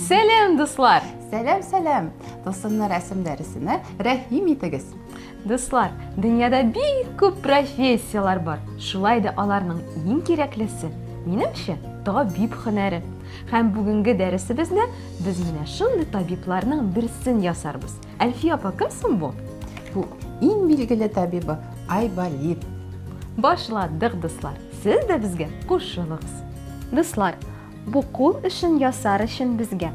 Сәлем, дуслар! Сәлем, сәлем! Тылсымны рәсем дәресенә рәхим итегез. Дуслар, дөньяда бик күп профессияләр бар. Шулай да аларның иң кирәклесе, минемчә, табиб һөнәре. Һәм бүгенге дәресебезне без менә шундый табибларның берсен ясарбыз. Әлфия апа кем соң бу? Бу иң билгеле табибы Айболит. Башладык, дуслар. Сез дә безгә кушылыгыз. Дуслар, бу кул эшен ясар өчен безгә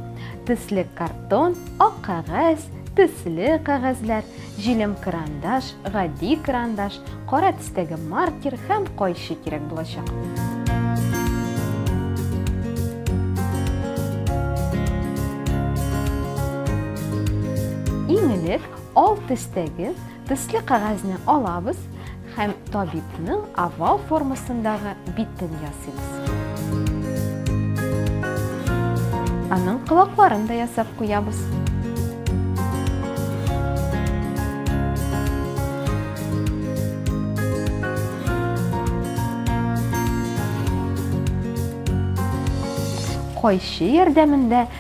төсле картон, ак кәгазь, төсле кәгазьләр, җилем карандаш, гади карандаш, кара төстәге маркер һәм кайчы кирәк булачак. Иң элек ал төстәге төсле кәгазьне алабыз һәм табибның овал формасындагы битен ясыйбыз. Аның кылакларын да ясап куябыз. Кайчы ярдәмендә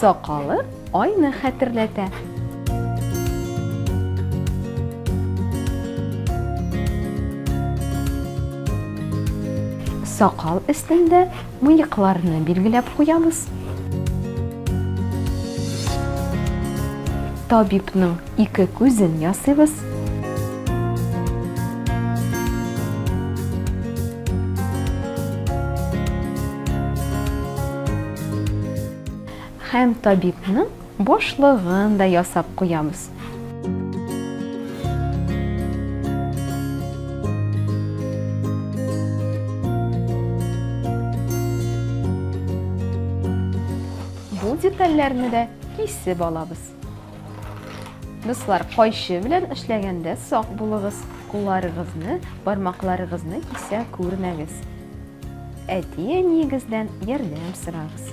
Сакалы айны хәтерләтә. Сакал өстендә мыекларны билгеләп куябыз. Табибның ике күзен ясыйбыз. Һәм табибның башлыгын да ясап куябыз. Бу детальләрне дә кисеп алабыз. Дуслар, кайчы белән эшләгәндә сак булыгыз, кулларыгызны, бармакларыгызны кисә күрмәгез. Әти-әниегездән ярдәм сорагыз.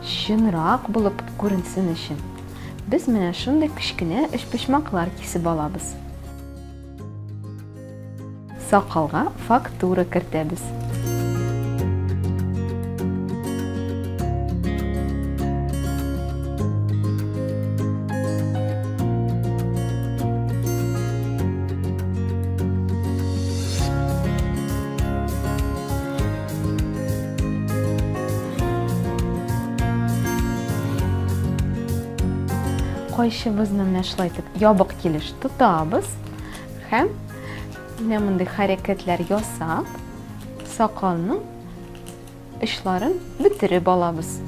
Чынрак булып күренсен өчен, без менә шундый кечкенә өчпочмаклар кисеп алабыз. Сакалга фактура кертәбез. Кайчыбызны менә шулай итеп ябык килеш тотабыз һәм менә мондый хәрәкәтләр ясап, сакалның очларын бөтереп алабыз.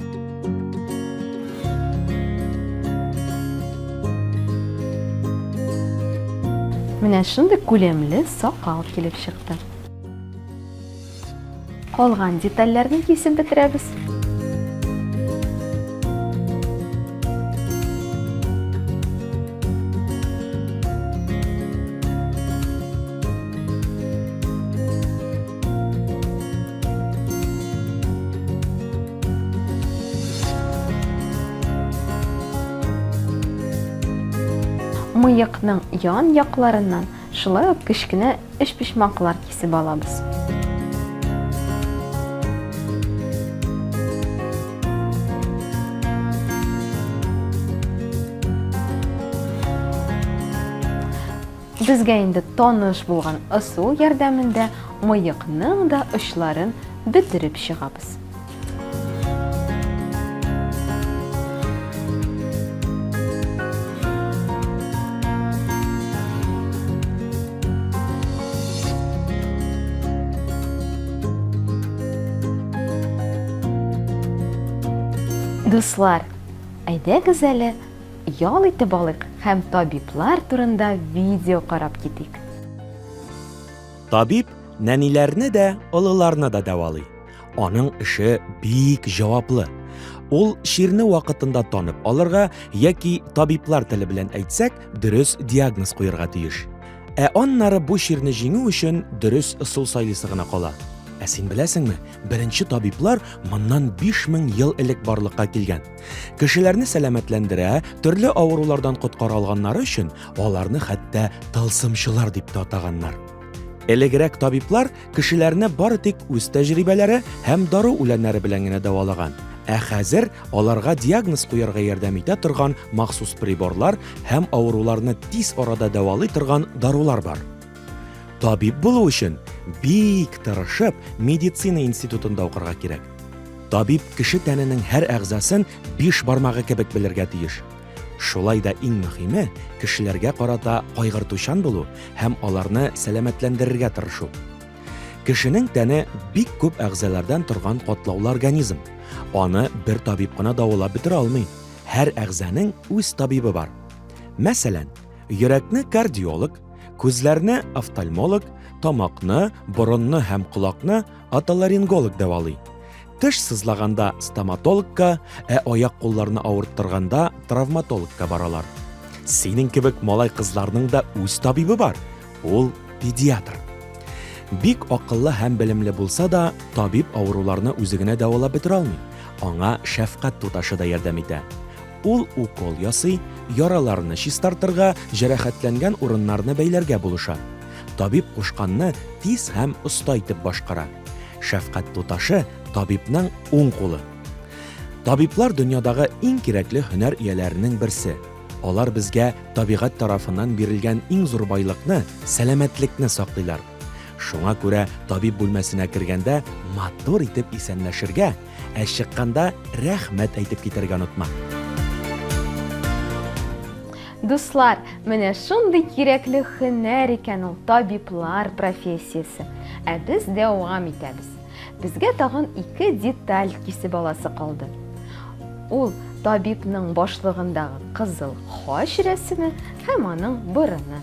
Менә шундый күләмле сакал килеп чыкты. Калган детальләрне кисеп бетерәбез. мыекның ян якларыннан Шулай ук кечкенә өчпочмаклар кисеп алабыз. Безгә инде таныш булган ысул ярдәмендә мыекның да очларын бөтереп чыгабыз. Дуслар, әйдәгез әле ял итеп алыйк һәм табиблар турында видео карап китик. Табиб нәниләрне дә, олыларны да дәвалый. Аның эше бик җаваплы. Ул чирне вакытында танып алырга яки табиблар теле белән әйтсәк, дөрес диагноз куярга тиеш. Ә аннары бу чирне җиңү өчен дөрес ысул сайлыйсы гына кала. Ә син беләсеңме, беренче табиблар моннан 5000 ел элек барлыкка килгән. Кешеләрне сәламәтләндерә, төрле авырулардан коткара алганнары өчен аларны хәтта тылсымчылар дип тә атаганнар. Элегрәк табиблар кешеләрне бары тик үз тәҗрибәләре һәм дару үләннәре белән генә дәвалаган. Ә хәзер аларга диагноз куярга ярдәм итә торган махсус приборлар һәм авыруларны тиз арада дәвалый торган дарулар бар. Табиб булу өчен бик тырышып медицина институтында укырга кирәк. Табиб кеше тәненең һәр әгъзасын биш бармагы кебек белергә тиеш. Шулай да иң мөһиме, кешеләргә карата кайгыртучан булу һәм аларны сәламәтләндерергә тырышу. Кешенең тәне бик күп әгъзалардан торган катлаулы организм. Аны бер табиб кына давалап бетерә алмый. Һәр әгъзаның үз табибы бар. Мәсәлән, йөрәкне кардиолог, күзләрне офтальмолог, тамакны, борынны һәм колакны отоларинголог дәвалый. Теш сызлаганда стоматологка, ә аяк-кулларны авырттырганда травматологка баралар. Синең кебек малай-кызларның да үз табибы бар. Ул педиатр. Бик акыллы һәм белемле булса да, табиб авыруларны үзе генә дәвалап бетерә алмый. Аңа шәфкать туташы да ярдәм итә. Ул укол ясый, яраларны чистартырга, җәрәхәтләнгән урыннарны бәйләргә булыша. Табиб кушканны тиз һәм оста итеп башкара. Шәфкать туташы, табибның уң кулы. Табиблар дөньядагы иң кирәкле һөнәр ияләренең берсе. Алар безгә табигать тарафыннан бирелгән иң зур байлыкны, сәламәтлекне саклыйлар. Шуңа күрә табиб бүлмәсенә кергәндә матур итеп исәнләшергә, ә чыкканда рәхмәт әйтеп китәргә онытма. Дуслар, менә шундый кирәкле хөнәр икән ул табиблар профессиясе. Ә без дәвам итәбез. Безгә тагын ике деталь кисеп аласы калды. Ул табибның башлыгындагы кызыл хач рәсеме һәм аның борыны.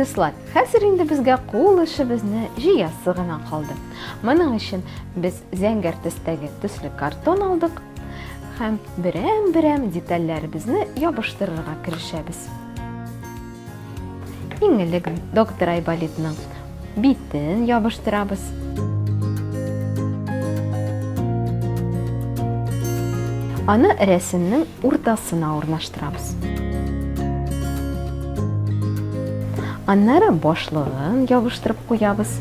Дуслар, хәзер инде безгә кул эшебезне җыясы гына калды. Моның өчен без зәңгәр төстәге төсле картон алдык һәм Берәм-берәм детальләребезне ябыштырырга керешәбез. Иң элек доктор Айболитның битен ябыштырабыз. Аны рәсемнең уртасына урнаштырабыз. Аннары башлыгын ябыштырып куябыз.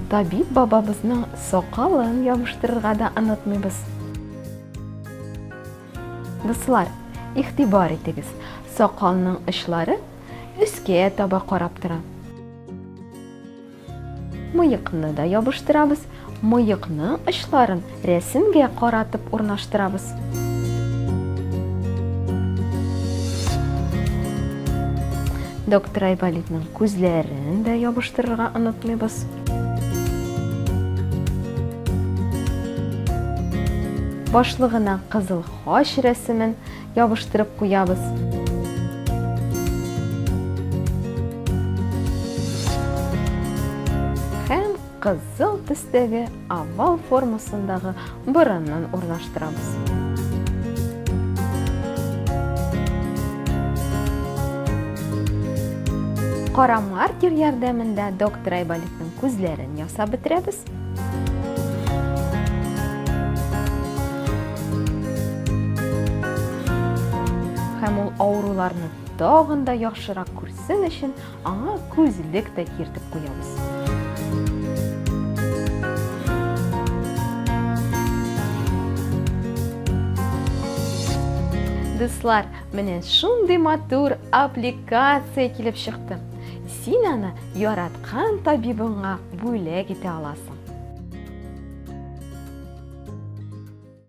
Табиб бабабызның сакалын ябыштырырга да онытмыйбыз. Дуслар, игътибар итегез, сакалның очлары өскә таба карап тора. Мыекны да ябыштырабыз. Мыекның очларын рәсемгә каратып урнаштырабыз. Доктор Айболитның күзләрен дә ябыштырырга онытмыйбыз. Башлыгына кызыл хач рәсемен Ябыштырып куябыз. кызыл төстәге овал формасындагы борыннан урнаштырабыз. Кара маркер ярдәмендә доктор Айболитның күзләрен ясап бетерәбез. Һәм ул авыруларны тагын да яхшырак күрсен өчен аңа күзлек тә киртеп куябыз. Дуслар, менә шундый матур аппликация килеп чыкты. Син аны яраткан табибыңа бүләк итә аласың.